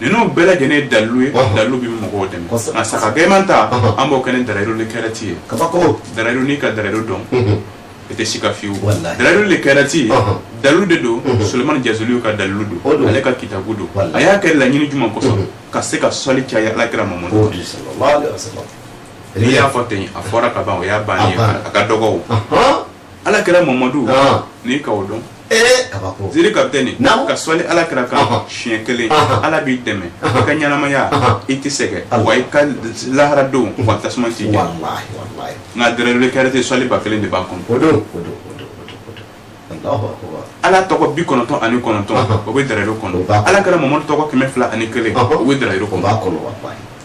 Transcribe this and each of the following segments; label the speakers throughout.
Speaker 1: ninnu bɛɛ lajɛlen ye dalilu ye dalilu bɛ mɔgɔw dɛmɛ nka saga gɛman ta an b'o kɛ ni darayiru lekɛrɛti ye darayiru n'i ka darayiru dɔn i tɛ sika fiyewu darayiru lekɛrɛti dalilu de don Sulemani Jazuli ka dalilu don ale ka kitabu don a y'a kɛ laɲini jumɛn kosɔn ka se ka sɔli caya ala kira Mamadu n'i y'a fɔ ten a fɔra ka ban o y'a bannen ye a ka dɔgɔ o. ala kira mamadu n'i ka o dɔn ziri kapitɛni ka sɔli ala kira kan siɲɛ kelen ala b'i dɛmɛ i ka ɲɛnamaya i tɛ sɛgɛn wa i ka lahara don wa tasuma t'i jeni nka darayiru lekɛrɛti sɔli ba kelen de b'a kɔnɔ ala tɔgɔ bi kɔnɔntɔn ani kɔnɔntɔn o bɛ darayiru kɔnɔ ala kira mamadu tɔgɔ kɛmɛ fila ani kelen o bɛ darayiru kɔnɔ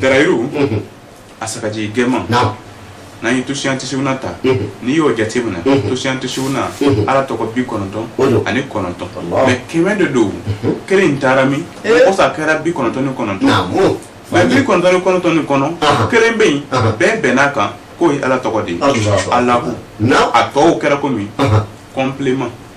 Speaker 1: Darayiru a sagajigi gɛman n'an ye tusiyan tisiwuna ta n'i y'o jateminɛ tusiyan tisiwuna ala tɔgɔ bi kɔnɔntɔn ani kɔnɔntɔn mɛ kɛmɛ de don kelen in taara min o sa kɛra bi kɔnɔntɔn ni kɔnɔntɔn mɛ bi kɔnɔntɔn ni kɔnɔntɔn nin kɔnɔ kelen bɛ yen bɛɛ bɛnn'a kan k'o ye ala tɔgɔ de ye alahu a tɔw kɛra komi complément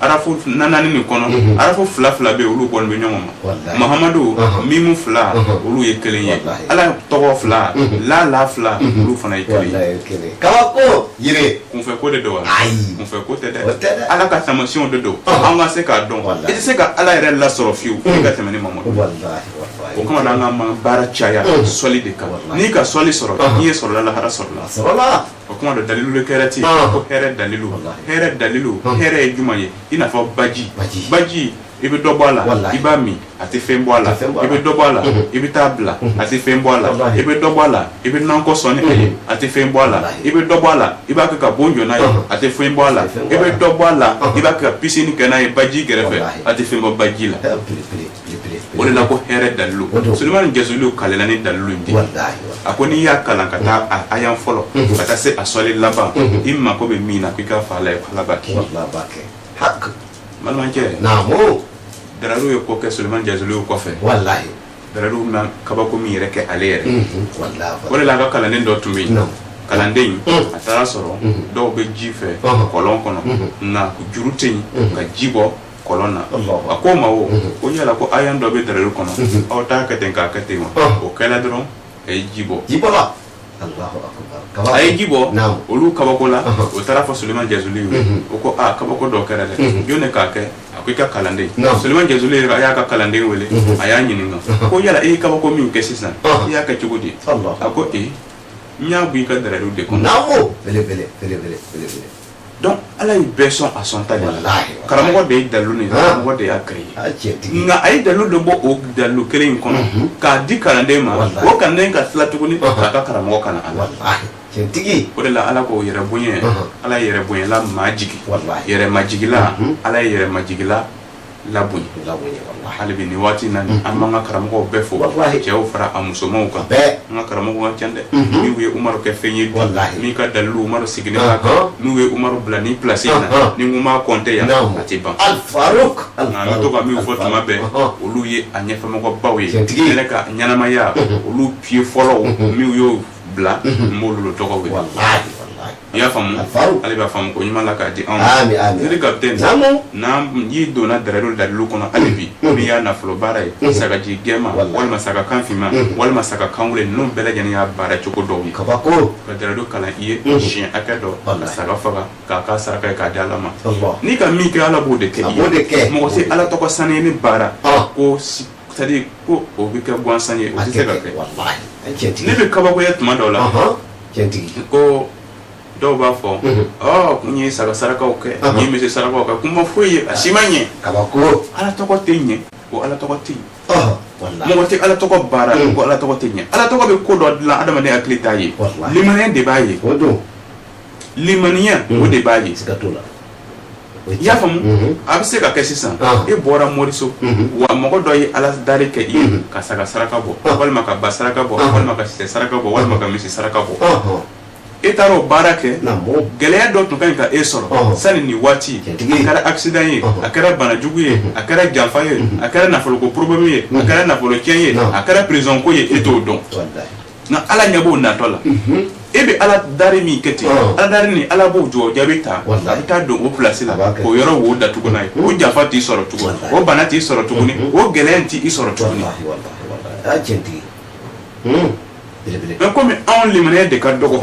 Speaker 1: arafu naani nin kɔnɔ mhm. arafu fila fila bɛ olu kɔni bɛ ɲɔgɔn ma mahamadu mhm. mimu fila mhm. olu ye kelen ye ala tɔgɔ fila lamu fila olu fana ye kelen ye kabako yiri kunfɛ ko de don wa ayi kunfɛ ko tɛ dɛ ala ka tamasiyɛnw de don an ka se k'a dɔn i tɛ se ka ala yɛrɛ lasɔrɔ fiyewu i ka tɛmɛ ni mamadu o kama na an ka baara caya sɔli de kan n'i ka sɔli sɔrɔ diɲɛ sɔrɔla lahara sɔrɔla O kuma dɔ dalilu lekɛrɛti Ɔn. ko hɛrɛ dalilu Walahi. hɛrɛ dalilu Ɔn. hɛrɛ ye jumɛn ye i n'a fɔ baji Baji. baji i bɛ dɔ bɔ a la Walahi. i b'a min a tɛ fɛn bɔ a la A tɛ fɛn bɔ a la. i bɛ dɔ bɔ a la Mhm. i bɛ taa bila a tɛ fɛn bɔ a la Walahi. i bɛ dɔ bɔ a la i bɛ nankɔ sɔn ni a ye Mhm. a tɛ fɛn bɔ a la Walahi. i bɛ dɔ bɔ a la i b'a kɛ ka bon jɔ n'a ye Mhm. a tɛ fɛn bɔ a la A tɛ fɛn bɔ a la. i bɛ dɔ bɔ a la Mhm. i b'a kɛ ka pisini kɛ n'a ye baji kɛrɛfɛ Walahi. a tɛ fɛn bɔ baji la Ɛɛ, pere pere o de la ko hɛrɛ dalilu sulemani jazuli kalela ni dalilu in de a ko n'i y'a kalan k'a ta a ayan fɔlɔ mhm. ka taa se a sɔli laban mhm. i mako bɛ min na ko i k'a fɔ ala ye ala b'a kɛ balimakɛ darayiru ye ko kɛ sulemani jazuli kɔfɛ darayiru ma kabako min yɛrɛ kɛ ale yɛrɛ mhm. o de la a ka kalanden dɔ tun bɛ yen kalanden mm. a taara sɔrɔ mm-hmm. dɔw bɛ ji fɛ uh-huh. kɔlɔn kɔnɔ mm-hmm. nka juru tɛ yen mm-hmm. ka ji bɔ kɔlɔn na a ko ma o ko yala ko ayan dɔ bɛ darayiru kɔnɔ aw t'a kɛ ten k'a kɛ ten wa o kɛla dɔrɔn a ye ji bɔ a ye ji bɔ olu kabakola o taara fɔ sulemani jazuli ye o ko aa kabako dɔ kɛra dɛ jɔn de k'a kɛ a ko i ka kalanden sulemani jazuli a y'a ka kalanden wele a y'a ɲininka ko yala e ye kabako min kɛ sisan i y'a kɛ cogo di a ko e n y'a bɔ i ka darayiru de kɔnɔ Donc Ala ye bɛɛ sɔn a sɔn ta de la. Walahi. Karamɔgɔ de ye dalilu nin Han. karamɔgɔ de y'a créé. A cɛntigi. Nka a ye dalilu dɔ bɔ o dalilu kelen in kɔnɔ Unhun. k'a di kalanden ma Walahi. o kalanden ka tila tuguni Ɔhɔn. k'a ka karamɔgɔ kalan a la. Walahi. Cɛntigi. O de la Ala ko yɛrɛ bonya Ɔhɔn. Ala ye yɛrɛ bonyala majigin Walahi. yɛrɛ majigila Unhun. Ala ye yɛrɛ majigila labonya hali bi nin waati na an b'an ka karamɔgɔw bɛɛ fo cɛw fara a musomanw kan an ka karamɔgɔw ka ca dɛ n'u ye umaru kɛ fɛn ye min ka dalilu umaru sigilen b'a kan n'u ye umaru bila nin plasi in na ni n ko n b'a kɔnte yan a tɛ ban nka an bɛ to ka min fɔ tuma bɛɛ olu ye a ɲɛfɛmɔgɔbaw ye yɛrɛ ka ɲɛnamaya olu pye fɔlɔ min y'o bila n b'olu tɔgɔ i y'a faamu A faamu. ale b'a faamu ko ɲuman la k'a di anw Ami, ami. zikiri kapitɛni Naamu. n'i donna dɛrɛdo dalilu kɔnɔ hali bi n'i y'a nafolo baara ye sagajigi gɛman Walahi. walima saga kan finman walima saga kan wulen ninnu bɛɛ lajɛlen y'a baara cogo dɔw ye kabako ka
Speaker 2: dɛrɛdo kalan i
Speaker 1: ye siɲɛ hakɛ dɔ ka Walahi. saga faga k'a kɛ saraka ye k'a di ala ma Allah. n'i ka min kɛ ala b'o de kɛ A i b'o de kɛ. ye mɔgɔ se ala tɔgɔ sani ni baara Ah. ko si- c'est à dire ko o bɛ kɛ gansan ye o a tɛ se ka kɛ kɛ wallahi a
Speaker 2: cɛntigi ne bɛ kabakoya
Speaker 1: tuma dɔw la Ahan. cɛntigi ko dɔw b'a fɔ Mhm. ɔ ko n ye saga sarakaw kɛ Ɔhɔ. ko n ye misi sarakaw kɛ ko n ma foyi ye a si ma ɲɛ kabako ala
Speaker 2: tɔgɔ tɛ ɲɛ
Speaker 1: ko ala tɔgɔ tɛ ɲɛ ɔhɔ walahi mɔgɔ tɛ ala tɔgɔ baara Mm. ko ala tɔgɔ tɛ ɲɛ ala tɔgɔ bɛ ko dɔ dilan adamaden hakili t'a ye Walahi. limaniya de b'a ye o don
Speaker 2: limaniya
Speaker 1: Mm. o de b'a ye siga t'o la i y'a faamu a bɛ se ka kɛ sisan e bɔra moriso wa mɔgɔ dɔ ye ala dari kɛ i ye ka saga saraka bɔ walima ka ba saraka bɔ walima ka sɛ saraka bɔ walima ka misi saraka bɔ e taara o baara kɛ gɛlɛya dɔ tun ka kan ka e sɔrɔ sani nin waati a kɛra accident ye a kɛra banajugu ye a kɛra janfa ye a kɛra nafolo ko problème ye a kɛra nafolo cɛn ye a kɛra prizɔnko ye e t'o dɔn nka ala ɲɛ b'o natɔ la e bɛ ala dari min kɛ ten Ɔn. ala dari nin ala b'o jɔ jaabi ta Walahi. a bɛ taa don o pilasi la A b'a kɛ. o yɔrɔ wo datugu n'a ye o janfa t'i sɔrɔ tuguni Walahi. o bana t'i sɔrɔ tuguni o gɛlɛya t'i sɔrɔ tuguni walahi walahi
Speaker 2: walahi a y'a tiɲɛtigi
Speaker 1: Hmm. belebele mais komi anw limaniya de ka dɔgɔ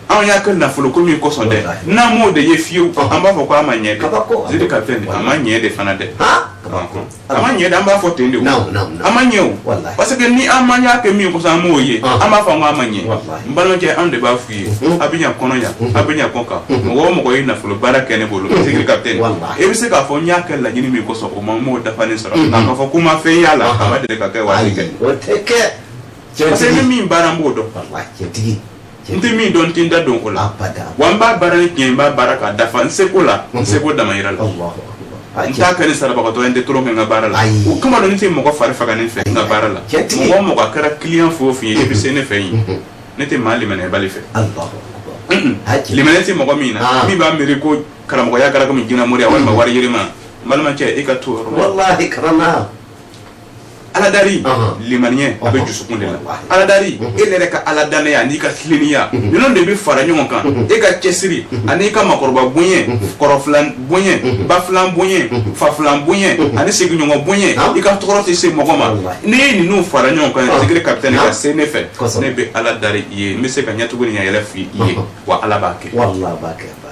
Speaker 1: anw y'a kɛ nafolo ko min kosɔn dɛ Walahi. n'an m'o de ye fiyewu an b'a fɔ ko a ma ɲɛ Kabako. dɛ zikiri kapitɛni a ma ɲɛ de fana dɛ ha kabako a ma ɲɛ de an b'a fɔ ten de o Naamu, naamu, naamu. a ma ɲɛ o Walahi. parce que ni an man y'a kɛ min kosɔn an m'o ye Ɔn. an b'a fɔ k'a ma ɲɛ Walahi. n balimakɛ an de b'a f'u ye Mhm. a bɛ ɲa kɔnɔ yan a bɛ ɲa kɔkan mɔgɔ o mɔgɔ ye nafolo baara kɛ ne bolo zikiri kapitɛni Walahi. e bɛ se k'a fɔ n y'a kɛ laɲini min kosɔn o ma n m'o dafalen sɔrɔ Mhm. nka k'a fɔ ko n ma fɛn y'a la Ɔhɔn. a ma deli ka kɛ waati ayi kɛ o tɛ kɛ
Speaker 2: parce que ni cɛntigi
Speaker 1: min baara n b'o dɔn walahi cɛntigi
Speaker 2: n tɛ min dɔn
Speaker 1: n tɛ n da don o la wa n b'a baara ni tiɲɛ n b'a baara k'a dafa n seko la n seko damayira la n t'a kɛ ni sarabagatɔ ye n tɛ tɔɔrɔ kɛ n ka baara la o kama don n tɛ mɔgɔ fari faga ne fɛ n ka baara la mɔgɔ mɔgɔ a kɛra client fɛn o fɛn ye i bɛ se ne fɛ yen ne tɛ maa limaniyabali fɛ limaniya tɛ mɔgɔ min na min b'a miiri ko karamɔgɔya kɛra komi jinɛmoriya walima wari yirima n balimakɛ e ka to o yɔrɔ la walahi kana na aladari limaniya a bɛ jusukun de la aladari e yɛrɛ ka ala dannaya n'i ka tileninya ninnu de bɛ fara ɲɔgɔn kan e ka cɛsiri ani'i ka makɔrɔba bonya kɔrɔfilan bonya bafilan bonya fafilan bonya ani sigiɲɔgɔn bonya i ka tɔɔrɔ tɛ se mɔgɔ ma n'i ye ninnu fara ɲɔgɔn kan zigiri kapitɛni ka se ne fɛ ne bɛ ala dari i ye n bɛ se ka ɲɛtugu ni ɲɛyɛlɛ f'i ye wa ala b'a kɛ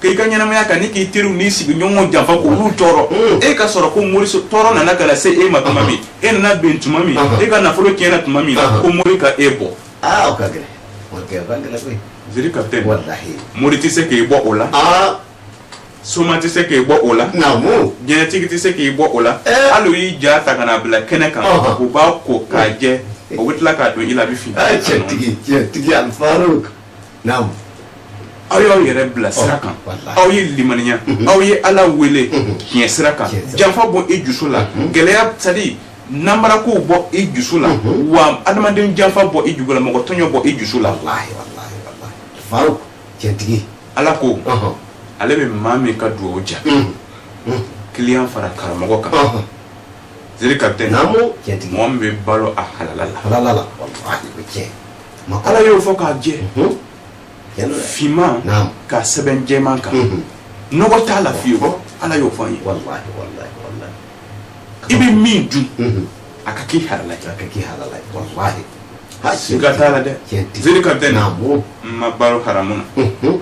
Speaker 1: k'i ka ɲɛnamaya kan ni k'i teriw n'i sigiɲɔgɔnw janfa k'olu tɔɔrɔ mm. e ka sɔrɔ ko mori tɔɔrɔ nana ka na se e ma tuma min e nana ben tuma min e ka nafolo tiɲɛna tuma min ko mori ka e bɔ
Speaker 2: ziri kapitɛni
Speaker 1: mori
Speaker 2: tɛ se k'i
Speaker 1: bɔ o la soma tɛ se k'i bɔ o la
Speaker 2: jinɛtigi tɛ se
Speaker 1: k'i bɔ o la eh. hali u y'i ja ta ka na bila kɛnɛ kan u b'a ko k'a jɛ u bɛ tila k'a don i la a bɛ fin. tiɲɛtigi tiɲɛtigi
Speaker 2: al faruk. naamu
Speaker 1: aw y'aw yɛrɛ bila sira kan walahi. aw ye limaniya aw ye ala wele tiɲɛ sira kan Tiɲɛ sira. janfa bɔ i jusu la gɛlɛya sadi nanbarakow bɔ i jusu la wa adamaden janfa bɔ i jusu la mɔgɔ tɔɲɔ bɔ i jusu la walahi walahi
Speaker 2: walahi faruk cɛntigi ala
Speaker 1: ko ɔhɔn ale bɛ maa min ka dugawu ja kiliyan fara karamɔgɔ kan ɔhɔn ziri kapitɛni naamu cɛntigi mɔgɔ min
Speaker 2: bɛ balo
Speaker 1: a halala la halala la walahi o cɛ
Speaker 2: ala y'o
Speaker 1: fɔ k'a jɛ finman ka sɛbɛn jɛman kan nɔgɔ t'a la fewu ala y'o fɔ ye
Speaker 2: i
Speaker 1: bɛ min dun a ka k'i halala a ka k'i halala walahi siga t'a la dɛ ziri kapitɛni
Speaker 2: maa balo haramu
Speaker 1: na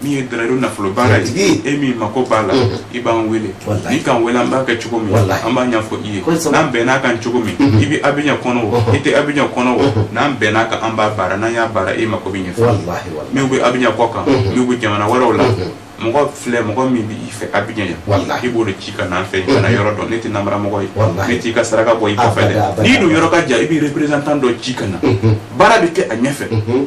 Speaker 1: min ye dalayidu nafolo baara ye e min mako b'a la i b'an wele n'i k'an wele an b'a kɛ cogo min an b'a ɲɛfɔ i ye n'an bɛnn'a kan cogo min i bɛ Abijan kɔnɔ o i tɛ Abijan kɔnɔ o n'an bɛnn'a kan an b'a baara n'an y'a baara e mako bɛ ɲɛ fo min bɛ Abijan kɔ kan min bɛ jamana wɛrɛw la mɔgɔ filɛ mɔgɔ min bɛ i fɛ Abijan yan i b'o de ci ka na an fɛ ka na yɔrɔ dɔn ne tɛ nanbaramɔgɔ ye ne t'i ka saraka bɔ i kɔfɛ dɛ n'i dun yɔrɔ ka jan i bɛ représentant dɔ ci ka na baara bɛ kɛ a ɲɛfɛ.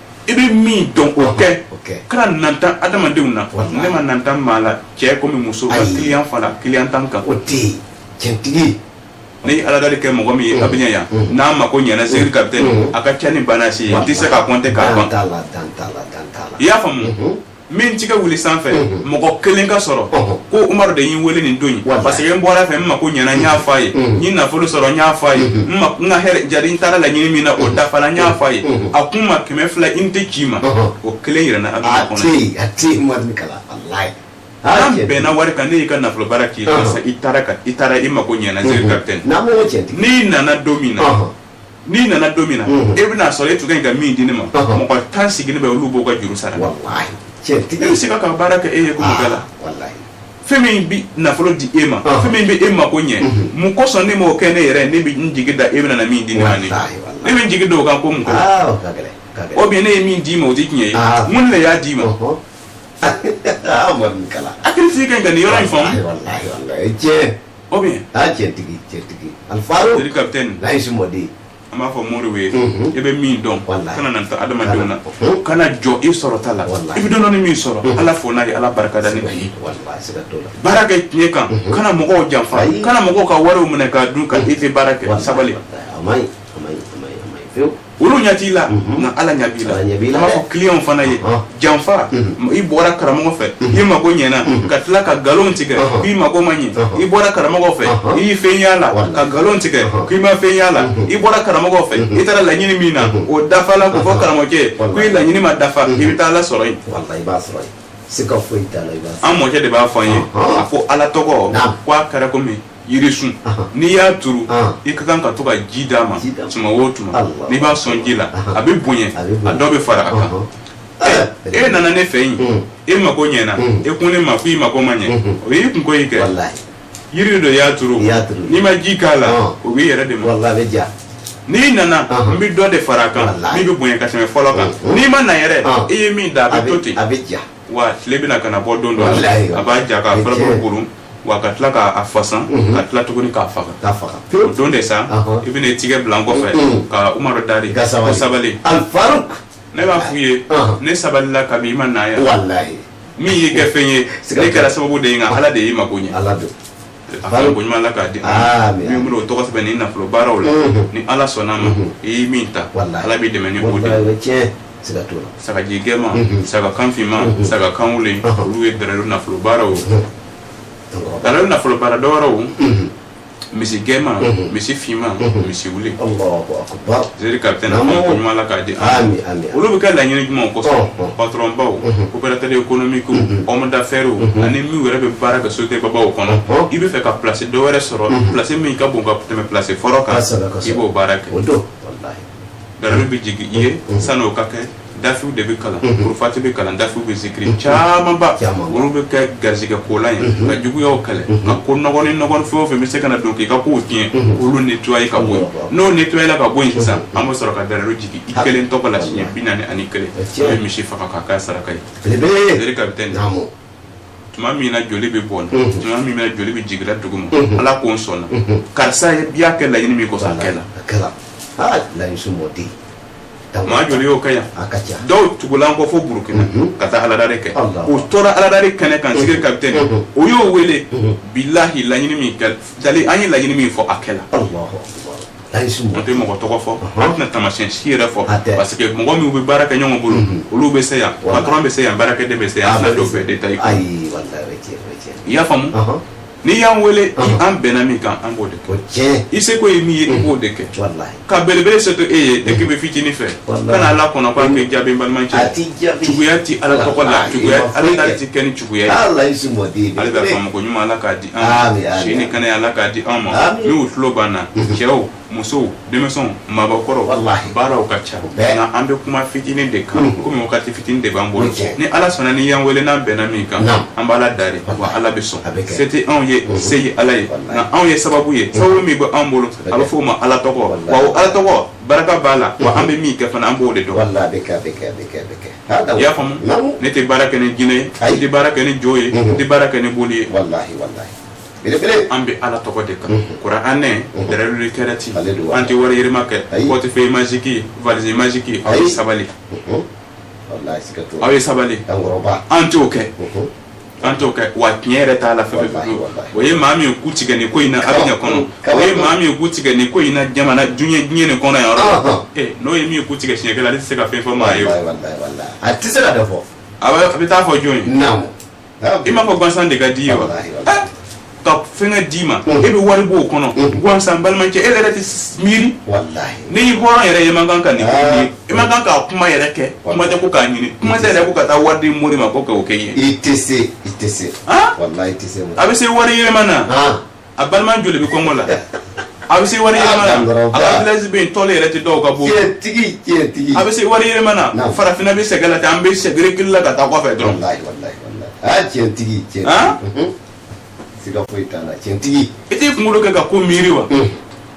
Speaker 2: i
Speaker 1: bɛ min dɔn o kɛ kana nata adamadenw na ne ma nata maa la cɛ kɔmi muso ka kiliyan fara kiliyan tan kan o tɛ yen
Speaker 2: cɛntigi ne
Speaker 1: ye ala dali kɛ mɔgɔ min ye Abijan yan n'a mako ɲɛna zigiri kapitɛni a ka ca ni ba n'a si ye n tɛ se k'a kɔnte k'a ban i y'a faamu min tigɛ wuli sanfɛ mɔgɔ kelen ka sɔrɔ ko umaru de y'i wele nin don ye parce que n bɔra a fɛ n mako ɲɛna n y'a fɔ a ye n ye nafolo sɔrɔ n y'a fɔ a ye n ma n ka hɛrɛ jari n taara laɲini min na o dafala n y'a fɔ a ye a ko n ma kɛmɛ fila unité ci n ma o kelen yira n na abijan kɔnɔ a tɛ umaru ni
Speaker 2: kala walayi an
Speaker 1: bɛnna wari kan ne y'i ka nafolo baara k'i la i taara i taara i mako ɲɛna n seri kapitɛni n'i nana don min na n'i nana don min na e bɛna sɔrɔ e tun ka ɲi ka min di ne ma mɔgɔ tan sigilen bɛ olu b'o ka juru sara e bɛ se ka ka baara kɛ e ye ko bɛɛ la fɛn min bɛ nafolo di e ma fɛn min bɛ e mako ɲɛ mun kosɔn ne m'o kɛ ne yɛrɛ ne bɛ n jigi da e bɛna min di ne ma ne ne bɛ n jigi da o kan ko mun o bɛ ne ye min d'i ma o tɛ tiɲɛ ye mun de y'a d'i ma hakilitigi ka nin yɔrɔ in faamu O bɛ yen seri kapitɛni ali faro ka n'a si mɔ de ye an b'a fɔ moriw ye e bɛ min dɔn kana nata adamadenw na ka na jɔ i sɔrɔta la i bɛ dɔɔnin min sɔrɔ ala fo n'a ye ala barika da baara kɛ tiɲɛ kan kana mɔgɔw janfa kana mɔgɔw ka wariw minɛ k'a dun ka e tɛ baara kɛ sabali olu ɲɛ t'i la nka ala ɲɛ b'i la Ala ɲɛ b'i la an b'a dɛ. fɔ kiliyanw fana ye Ɔhɔn. janfa i bɔra karamɔgɔ fɛ i mako ɲɛna ka tila ka nkalon tigɛ Ɔhɔn. k'i mako ma ɲɛ Ɔhɔn. i bɔra karamɔgɔ fɛ Ɔhɔn. i y'i fɛn y'a la Wala. ka nkalon tigɛ Ɔhɔn. k'i ma fɛn y'a la i bɔra karamɔgɔ fɛ i taara laɲini min na o dafala k'o fɔ karamɔgɔkɛ ye Wala. ko i laɲini ma dafa i bɛ taa ala sɔrɔ yen walahi i b'a sɔrɔ yen sika foyi t'a la i b'a sɔrɔ an mɔkɛ de b'a fɔ an ye Ɔhɔn. a ko ala tɔgɔ Naam. ko a kɛra komi yirisun n'i y'a turu i ka kan ka to ka ji d'a ma tuma o tuma n'i b'a sɔn ji la a bɛ bonya a dɔ bɛ fara a kan e nana ne fɛ yen e mako ɲɛna e ko ne ma ko i mako ma ɲɛ o y'i kunko y'i kɛ yiri dɔ y'a turu n'i ma ji k'a la o b'i yɛrɛ de ma n'i nana n bɛ dɔ de fara a kan min bɛ bonya ka tɛmɛ fɔlɔ kan n'i ma na yɛrɛ i ye min da a bɛ to ten wa tile bɛna ka na bɔ don dɔ la a b'a ja k'a furabulu kuru wa ka tila k'a fasan mhm. ka tila tuguni k'a faga o don de sa i bɛna tigɛ bila n kɔfɛ mhm. ka umaru dari ko sabali ne b'a f'u ye ne sabalila kabi i ma na yan min y'i kɛ fɛn ye ne kɛra sababu de ye nka ala de y'i mako ɲɛ a fa ye ko ɲuman ala k'a di an Aami, ma min bolo o tɔgɔ sɛbɛnni nafolo baaraw la Mhm. ni ala sɔnna a ma Mhm. i ye min ta Walahi. ala b'i dɛmɛ ni o de wallahi o ye. bɛ tiɲɛ siga t'o la sagaji gɛma Mhm. saga kan finma Mhm. saga kan wulen Ɔhɔ. olu ye dalilu nafolo baaraw An kɔrɔ. dalilu nafolo baara dɔwɛrɛw Mhm. misi gɛma Mhm. misi finma Mhm. misi wulen Allahu akbar Zeri kapitɛn a fana ko ɲuman Ala k'a di an ma, aami aami, olu bɛ kɛ laɲini jumɛnw kosɔn, ɔnhɔn, olu bɛ kɛ patɔrɔn baw, operatɛri ekonomiki, hɔmu dafɛriw ani minnu yɛrɛ bɛ baara kɛ sosiyete babaw kɔnɔ, ɔnhɔn, i bɛ fɛ ka pilasi dɔ wɛrɛ sɔrɔ pilasi min ka bon ka tɛmɛ pilasi fɔlɔ kan, kosɛbɛ kosɛbɛ, i b'o baara kɛ, o don, walahi, kalan bɛ jigin i ye sanni o ka kɛ dafiw de bɛ kalan kurufati bɛ kalan dafi bɛ zikiri camanba olu bɛ kɛ garisɛgɛ kolan ye ka juguyaw kɛlɛ ka ko nɔgɔ ni nɔgɔ fɛn o fɛn bɛ se ka na don k'i ka ko tiɲɛ olu nettoyer ka bɔ n'o nettoyer la ka bɔ yen sisan an bɛ sɔrɔ ka dalayilu jigin i kelen tɔgɔ la siɲɛ bi naani ani kelen ye misi faga k'a kɛ saraka ye kan bɛ tigɛ tuma min na joli bɛ bɔ tuma min joli bɛ jiginla dugu ma ala ko n sɔnna karisa i y'a kɛ laɲini min kosɔn a kɛla maa joli y'o kɛ yan dɔw tugula n kɔ fo burukina mhm. ka taa aladari kɛ u tora aladari kɛnɛ kan sigiri mhm. kapitɛni mhm. o y'o wele bilahi laɲini min kɛ dali an ye laɲini min fɔ a kɛla an tɛ mɔgɔ tɔgɔ fɔ an tɛna tamasiyɛn si yɛrɛ fɔ parce que mɔgɔ minnu bɛ baara kɛ ɲɔgɔn bolo olu bɛ se yan patɔrɔn bɛ se yan baarakɛden bɛ se yan an tɛna dɔw bɛɛ detaye i y'a faamu n'i y'an wele an bɛnna min kan an b'o de kɛ i seko ye min ye i b'o de kɛ ka belebele se to e ye dès que bɛ fitinin fɛ ka na ala kɔnɔ k'an bɛ jaabi balimacɛ juguya ti ala tɔgɔ la juguya ala ta ti kɛ ni juguya ye ale bɛ faamako ɲuman ala k'a di an ma si ni kɛnɛya ala k'a di an ma minnu tulo b'an na cɛw musow denmisɛnw maabakɔrɔw baaraw ka ca nka an bɛ kuma fitinin de kan mm-hmm. komi wagati fitinin de b'an bolo ni ala sɔnna n'i y'an wele n'an bɛnna min kan an b'ala dari wa ala bɛ sɔn se tɛ anw ye mm-hmm. se ye ala ye nka anw ye sababu ye mm-hmm. sababu min bɛ anw bolo a bɛ f'o ma ala tɔgɔ wa o ala tɔgɔ baraka b'a la wa an bɛ min kɛ fana an b'o de dɔn i y'a faamu ne tɛ baara kɛ ni jinɛ ye n tɛ baara kɛ ni jo ye n tɛ baara kɛ ni boli ye belebele an bɛ ala tɔgɔ de kan kuranɛ dɛrɛlu kɛrɛti an tɛ wari yɛlɛma kɛ portefeuille magique valise magique aw ye sabali aw ye sabali an t'o kɛ an t'o kɛ wa tiɲɛ yɛrɛ t'a la fɛ o ye maa min ku tigɛ nin ko in na abijan kɔnɔ o ye maa min ku tigɛ nin ko in na jamana diɲɛ diɲɛ nin kɔnɔ yan n'o ye min ku tigɛ siɲɛ kelen ale tɛ se ka fɛn fɔ maa ye a tɛ
Speaker 2: se ka fɔ a bɛ taa fɔ
Speaker 1: jɔn ye i m'a fɔ gansan de ka d'i ye wa ka fɛngɛ d'i ma e bɛ wari b'o kɔnɔ gansan balimakɛ e yɛrɛ tɛ miiri n'e ye hɔrɔn yɛrɛ ye man kan ka nin e man kan k'a kuma yɛrɛ kɛ kuma tɛ ko k'a ɲini kuma tɛ yɛrɛ ko ka taa wari di mori ma ko k'o kɛ ye i tɛ se i tɛ
Speaker 2: se
Speaker 1: a bɛ se wari yɛlɛma na a balima joli bɛ kɔngɔ la a bɛ se wari yɛlɛma na a ka village bɛ yen tɔli yɛrɛ tɛ dɔw ka bon tiɲɛtigi tiɲɛtigi a bɛ se wari yɛlɛma na farafinna bɛ sɛgɛn la ten an bɛ segin reculer la ka taa kɔfɛ dɔrɔn walayi walayi walayi
Speaker 2: aa tiɲɛtigi tiɲɛtigi siga foyi t'a la tiɲɛtigi i t'i kunkolo kɛ ka
Speaker 1: ko miiri wa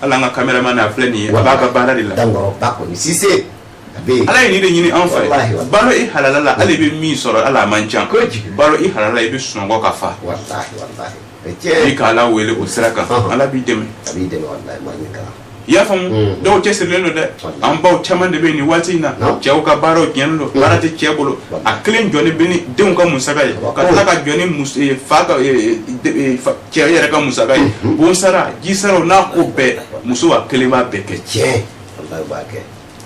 Speaker 1: hali an ka kameraman a filɛ nin ye a b'a ka baara de la dankɔrɔ ba kɔni sise a bɛ yen ala ye nin de ɲini anw fɛ Walahi, walahi. balo i halala la hali i bɛ min sɔrɔ hali a man ca Kojugu. balo i halala la i bɛ sunɔgɔ ka fa walahi walahi o ye tiɲɛ ye i ka ala wele o sira kan Ɔhɔn. ala b'i dɛmɛ a b'i dɛmɛ walahi maa ɲɛ kalan i y'a faamu Mm. dɔw cɛsirilen don dɛ Walahi. an baw caman de bɛ yen nin waati in na Non. cɛw ka baaraw tiɲɛnen don baara tɛ cɛ bolo Walahi. a kelen jɔlen bɛ ni denw ka musaka ye Walahi. ka tila ka jɔ ni mus- eh, fa ka eh, eh, de- eh, fa- cɛ yɛrɛ ka musaka ye bon sara ji sara o n'a ko bɛɛ muso a kelen b'a bɛɛ kɛ tiɲɛ walahi b'a kɛ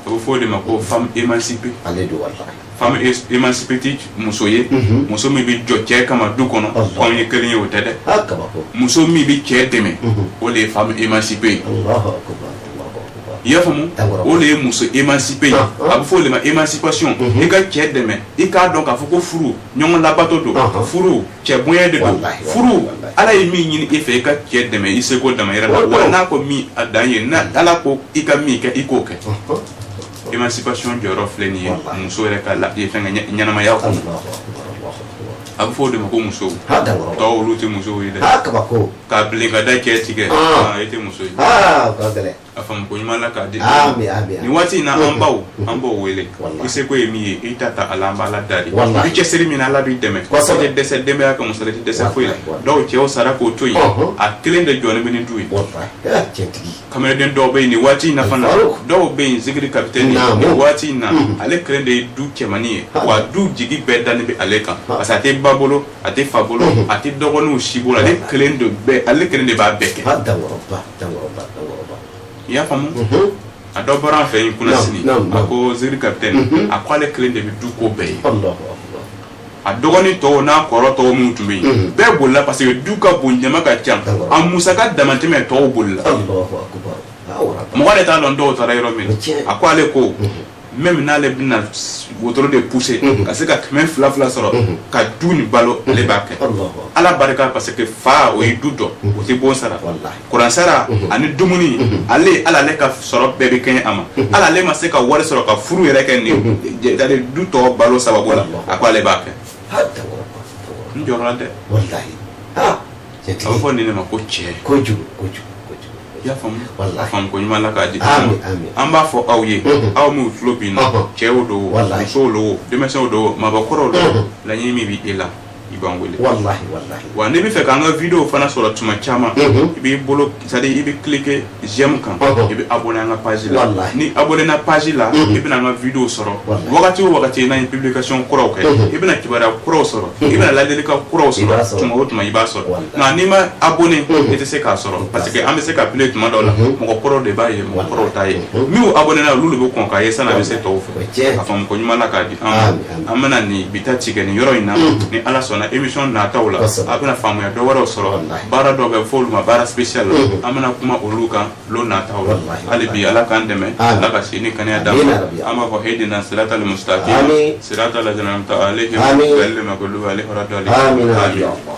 Speaker 1: a bɛ fɔ o de ma ko femme émancipée ale don walahi femme é- émancipée tɛ muso ye Mhm. muso min bɛ jɔ cɛ kama du kɔnɔ Allah. k'anw ye kelen ye o tɛ dɛ a kabako muso min bɛ cɛ dɛmɛ Mhm. o de ye femme émancipée ye alahu akubar alahu akubar i y'a faamu D'accord. o de ye muso émancipée ye Ah, ah. a bɛ fɔ o de ma émancipation Mhm. i ka cɛ dɛmɛ i k'a dɔn k'a fɔ ko furu ɲɔgɔn labato don Ah, ah. furu cɛ bonya de don furu ala ye min ɲini i fɛ i ka cɛ dɛmɛ i seko damayira la wa n'a ko min a dan ye ni ala ko i ka min kɛ i k'o kɛ émancipation jɔyɔrɔ filɛ nin ye muso yɛrɛ ka la ye fɛn kɛ ɲɛnamaya kɔnɔ a bɛ fɔ o de ma ko muso tɔw olu tɛ musow ye dɛ k'a bilen ka da cɛ tigɛ i tɛ muso ye a faamuko ɲuman ala k'a di Amin, amin, amin. nin waati in na an baw an b'o wele Wallahi. i seko ye min ye i ta ta ala an b'ala dari Wallahi. i cɛsiri min na ala b'i dɛmɛ Kosɛbɛ. i tɛ dɛsɛ denbaya ka musaka la i tɛ dɛsɛ foyi la Wallahi. dɔw cɛw sara k'o to yen Ɔhɔn. a kelen de jɔlen bɛ ni du ye Wallahi. Eh, cɛntigi kamalen dɔw bɛ yen nin waati in na fana Faruk. dɔw bɛ yen zikiri kapitɛni Naamu. nin waati in na Mhm. ale kelen de ye du cɛmannin ye Ha. wa du jigi bɛɛ dalen bɛ ale kan Ha. parce que a tɛ ba bolo a tɛ fa bolo Mhm. a tɛ dɔgɔninw si bolo ale Wallahi. kelen de bɛɛ ale kelen de b'a bɛɛ kɛ hada wɔrɔba i y'a faamu mhm. a dɔ bɔra an fɛ yen kunasini a ko zikiri kapitɛni mhm. a ko ale kelen de bɛ du ko bɛɛ ye a dɔgɔnin tɔw n'a kɔrɔ tɔw minnu tun bɛ yen mhm. bɛɛ bolila parce que du ka bon jama ka ca a musaka damatɛmɛ tɔw bolila mɔgɔ de t'a dɔn dɔw taara yɔrɔ min a ko ale ko même n'ale bɛna wotoro de pousser mhm. ka se ka kɛmɛ fila fila sɔrɔ mhm. ka du nin balo ale b'a kɛ ala barika parce que fa o ye du dɔ mhm. o tɛ bon sara kuran sara ani dumuni ale hali ale ka sɔrɔ bɛɛ bɛ kɛɲɛ a ma hali ale ma se ka wari sɔrɔ ka furu yɛrɛ kɛ nin du tɔ balo sababu la a ko ale b'a kɛ n jɔra dɛ a bɛ fɔ nin de ma ko cɛ I y'a faamu walahi a faamu ko ɲuman Ala k'a di amin amin an b'a fɔ aw ye Unhun. aw minnu tulo b'an na Ɔhɔn. cɛw don o Walahi. musow don o denmisɛnw don o maabakɔrɔw don o Unhun. laɲini min bɛ e la i b'an wele walahi walahi wa
Speaker 2: n'i b'a fɛ
Speaker 1: k'an ka video fana sɔrɔ tuma caman Unhun. i b'i bolo c'est à dire i bɛ cliquer j'aime kan Ɔhɔn. i bɛ abonné an ka page la Walahi. n'i abonnéna page la Unhun. i bɛna an ka video sɔrɔ Walahi. wagati o wagati n'an ye publication kuraw kɛ Unhun. i bɛna kibaruya kuraw sɔrɔ i bɛna ladilikan kuraw I b'a sɔrɔ sɔrɔ. tuma o tuma i b'a sɔrɔ Walahi. Nka n'i ma abonné i tɛ se k'a sɔrɔ parce que an bɛ se k'a publier tuma dɔw la mɔgɔ kɔrɔ de b'a ye mɔgɔ kɔrɔ t'a ye minnu abonnéna olu de bɛ kɔn k'a ye san'a bɛ se tɔw fɛ k'a faamu ko ɲuman k'a di an bɛna nin bi ta tigɛ nin yɔrɔ in na ni ala sɔnna émission nata la a bɛna faamuya dɔw wɛrɛw sɔrɔ baara dɔw bɛ fɔ olu ma baara spécial an bɛna kuma olu kan nata la hali bi ala k'an dɛmɛ ala ka si ni kɛnɛya d'an ma an b'a fɔ ihdina siratal mustaqim siratal ladzina an'amta alaihim